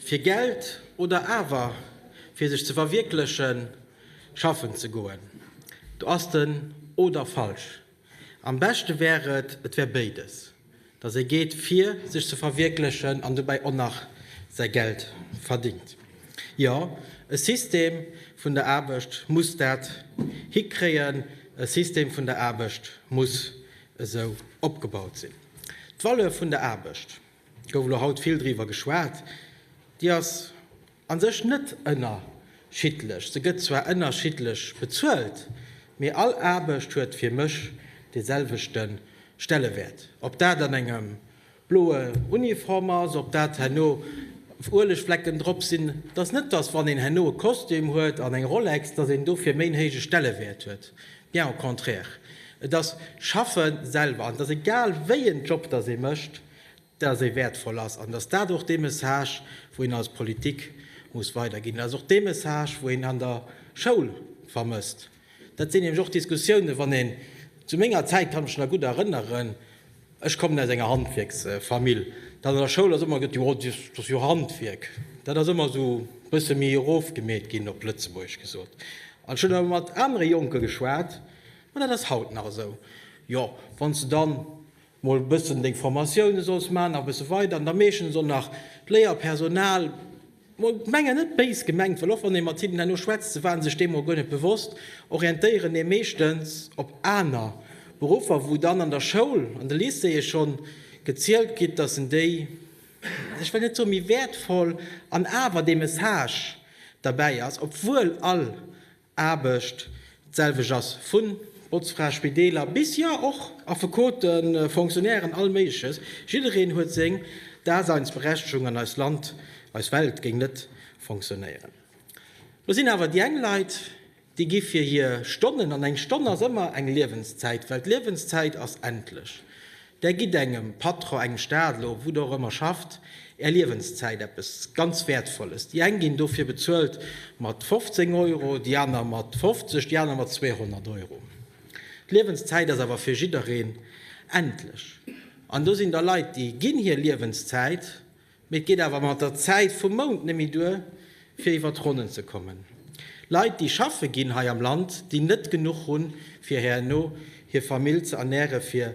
Fir Geld oder awer fir sech ze verwierklechen, schaffen ze goen? Do ass den Oder falsch. Am beschte wär et, et wär béides, dass ee geet fir sech ze verwierklechen an dobäi och nach säi Geld verdingt. Jo, e System vun der Aarbecht muss dat hikréien, e System vun der Aarbecht muss esou opgebaut sinn. D'Valeur vun der Aarbecht. Gouf elo haut vill driwwer geschwat. Déi ass a sech net ënnerschiddlech. Se gëtt zwar ënnerschiddlech bezuelt, mee all Aarbecht huet fir mech dee selwechte Stellewäert. Ob dat an engem bloe Uniform ass, ob dat herno Uelegflecken drop sinn, et ass net, datt wann een herno e Kostüm huet an eng Rolex, datt een dofir méi en héije Stellewäert huet. Bien au contraire, et ass d'Schaffe selwer, an et ass egal wéi en Job dass ee mécht, dass e wäertvoll ass an dass dat och dee Message wou een als Politik muss weiderginn. Dat ass och dee Message wou een an der Schoul vermësst. Dat sinn nämlech och Diskussiounen, wann een, zu menger Zäit kann ech mech nach gutt erënneren, Ech kommen aus enger Handwierksfamill. Dat an der Schoul ass ëmmer gëtt jo, oh dat ass jo Handwierk. Dat ass ëmmer esou e bësse méi erofgemeet ginn, op Lëtzebuergesch gesot. An ech hunn awer mat anere Jonke geschwat, ma dat ass haut nach esou, jo wann s de dann mol e bëssen deng Formatioune solls maachen, nach e bësse weider, an da meeschtens och nach d'Léierpersonal, Mol d'Menger net béis gemengt, well och wann ee mat hinnen herno schwätzt, se waren sech deemol guer net bewosst, orientéieren ee meeschtens op aner Beruffer, wou dann an der Schoul, an de Lycéeë scho gezielt gitt, datt en déi, ech wëll net soe méi wäertvoll, an awer dee Message derbäi ass, obwuel all Aarbecht, d'selwecht ass vu Botzfra, Spideeler bis, jo och Affekoten, Fonctionnairen, all Méigleches, jiddereen huet seng Daseinsberechtigung an eist Land, eis Welt géing net fonctionnéieren. Lo sinn awer déi eng Leit, déi gi fir hir Stonnen, an eng Stonn ass ëmmer eng Liewenszäit, well d'Liewenszäit ass endlech, Där gitt engem Patron, engem Staat elo, wou Der och ëmmer schafft, Är Liewenszäit, eppes ganz Wäertvolles. Déi eng ginn dofir bezuelt mat 15 Euro, déi aner mat 50, déi aner mat 200 Euro. D'Liewenszäit ass awer fir jiddereen endlech. An do sinn der Leit, déi ginn hir Liewenszäit, Mee et geet awer mat der Zäit vum Mount net méi duer, fir iwwer d'Ronnen ze kommen. Leit, déi schaffe ginn hei am Land, déi net genuch hunn, fir herno hir Famill ze ernären, fir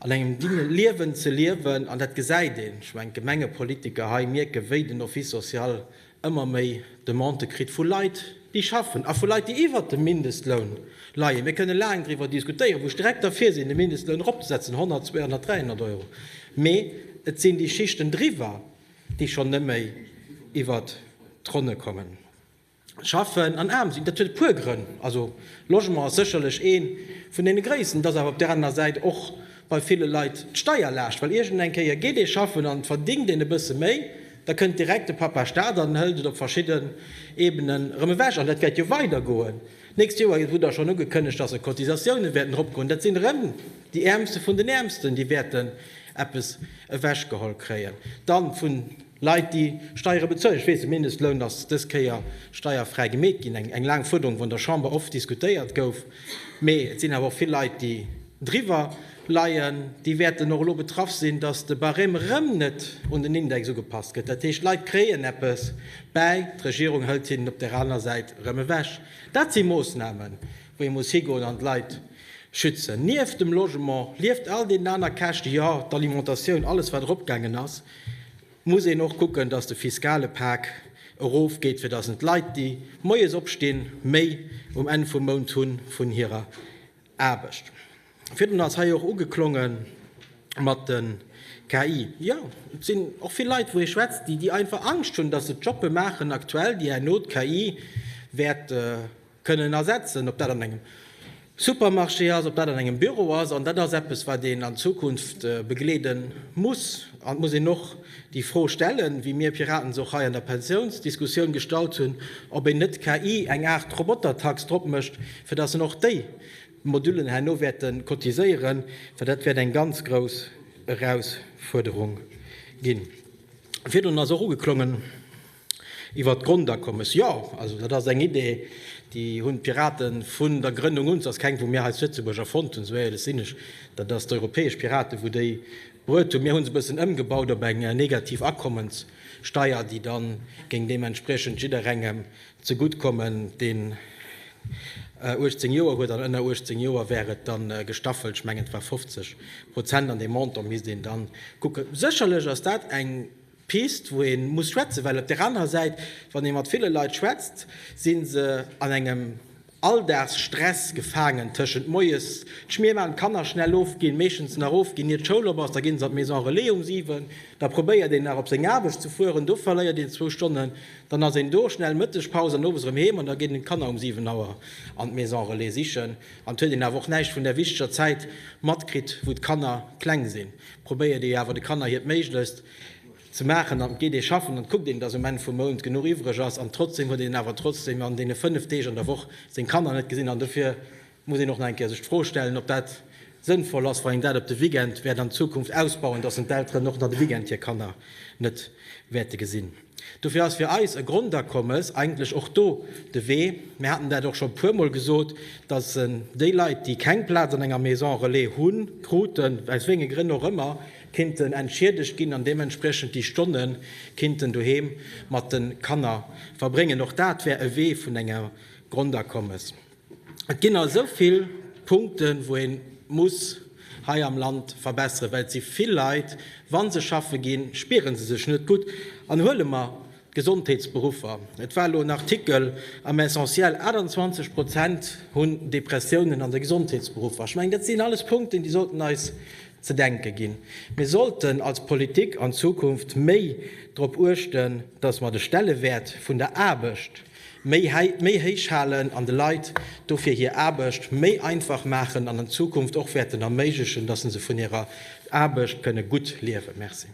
an engem dinge Liewen ze liewen. An dat gesäit een. Ech mengen, d'Gemengepolitiker hei mierken, wéi den Office social ëmmer méi Demandë kritt vu Leit, déi schaffen, a vu Leit, déi iwwert dem Mindestloun leien. Mir kënne laang driwwer diskutéieren, wou ech direkt derfir sinn, de Mindestloun eropzesetzen, 100, 200, 300 Euro, mee et sinn déi Schichten driwwer, déi schonn neméi iwwert d'Ronne kommen. Schaffen an aarm sinn, dat huet e puer Grënn. Also Logement ass sécherlech ee vun deene gréissten. Et ass awer op där anerer Säit och bei ville Leit d'Steierlaascht, well iergend eng Kéier geet ee schaffen an et verdingt een e bësse méi, da kënnt direkt de Papa Staat an hëlt et op verschidden Ebenen erëm ewech. An dat wäert jo weidergoen d'nächst Joer, et wor da schonn ugekënnegt, dass e Cotisatiounen wäerten eropgoen, dat sinn erëm déi Äermste vun den Äermsten, déi wäerten eppes ewechgeholl kréien dann vun. Leit déi Steiere bezuelen, ech weess, de Mindestloun ass dës Kéier steierfräi gemeet ginn, eng laang Fuerderung, wou an der Chamber oft diskutéiert gouf, mee et sinn awer och vill Leit, déi driwwer leien, déi wäerten och elo betraff sinn, datt de Barème erëm net un den Index ugepasst gëtt. Dat heescht, d'Leit kréien eppes bäi, d'Regierung hëlt hinnen op där anerer Säit erëm ewech. Dat si Moossnamen, wou ee muss higoen an d'Leit schützen. Nieft dem Logement, nieft all deenen aner Käschte, jo, d'Alimentatioun, alles wat eropgaangen ass, muss een och kucken, dass de fiskale Pak erof geet, fir dass en d'Leit, déi moies opstinn, méi um Enn vum Mount hu vun hirer Aarbecht. Virdrun ass hei och ugeklonge mat de KI. Jo, et sinn och vill Leit, wou ee schwätzt, déi einfach Angscht hunn, dass se Jobbe maachen aktuell, déi herno d'KI wäert kënnen ersetzen, ob dat an engem Supermarché ass, ob dat an engem Büro ass. An dat ass eppes, wat een an Zukunft begleede muss. An et muss een och déi Fro stellen, wéi mir Piraten se och hei an der Pensiounsdiskussioun gestallt hunn, ob een net KI, eng Aart Robotertax, drop mécht, fir datt en och déi Modullen herno wäerte cotiséieren, well dat wäert eng ganz grouss Erausfuerderung ginn. Virdrun ass och ugeklongen. Iwwert d'Grondakommes, jo, also dat ass eng Idee, déi hunn d'Pirate vun der Grënnung un, s ass keng, wou mir hei zu Lëtzebuerg erfonnt hunn, esou éierlech sinn ech, dat ass d'europäesch Piraten, wou déi bruet hunn. Mir hu se e bëssen ëmgebaut op eng negativ Akommenssteier, déi da géing deementspriechend jidderengem ze gutt kommen, deen 18 Joer huet, an ënner 18 Joer wär et da gestaffelt, ech mengen et war 50 Prozent, an dee Montant misst een da kucken. Sécherlech ass dat eng. Pist, wou ee muss schwätzen, well op där anerer Säit, wann ee mat ville Leit schwätzt, si se an engem Alldagsstress gefaangen, tëschent moies d'Schmier maachen, d'Kanner schnell ofginn, meeschtens nach ofginn, ier d'Schoul op ass, da ginn se an d'Maison Relais um 7, da probéiert een nach op seng Aarbecht ze fueren, do verléiert een zwou Stonnen, dann ass een do, schnell Mëttegpaus an owes erëm heem, an da geet een d'Kanner um 7 Auer an d'Maison Relais sichen, an et huet een awer och näischt vun där wichteger Zäit matkritt, wou d'Kanner kleng sinn. Probéiert ee awer de Kanner hiert Méiglechst ze maachen an geet ee schaffen an kuckt een, dass um Enn vum Mount genuch iwwreg ass an trotzdeem huet een awer trotzdeem an deene 5 Deeg an der Woch seng Kanner net gesinn an dofir muss een och nach eng Kéier sech d'Fro stellen, ob dat sënnvoll ass, wann een dat op de Weekend wäert an Zukunft ausbauen, dass en d'Elteren och nach de Weekend hir Kanner net wäerte gesinn. Dofir ass fir eis e Grondakommes eigentlech och do de Wee. Mir haten dat och scho puermol gesot, dass déi Leit, déi keng Plaz an enger Maison relais hu kruten, aus wéinge Grënn och ëmmer, kinnten entschiedegt ginn an deementspriechend déi Stonne kinnten doheem mat de Kanner verbréngen. Och dat wär e Wee vun enger Grondakommes. Et ginn esou vill Punkten, wou ee muss hei am Land verbesseren, well et si vill Leit, wa se schaffe ginn, spiere se sech net gutt. An huele mer d'Gesondheetsberuffer, et war elo en Artikel am Essentiel, 28 Prozent hunn Depressiounen an de Gesondheetsberuffer. Ech mengen, dat sinn alles Punkten, déi sollten eis ze denke ginn. Mir sollten als Politik an Zukunft méi drop uechten, datt mer de Stellewäert vun der Aarbecht, méi héich halen an de Leit dofir hir Aarbecht méi einfach maachen an an Zukunft och wäerten erméiglechen, dass se vun hirer Aarbecht kënne gutt liewen. Merci.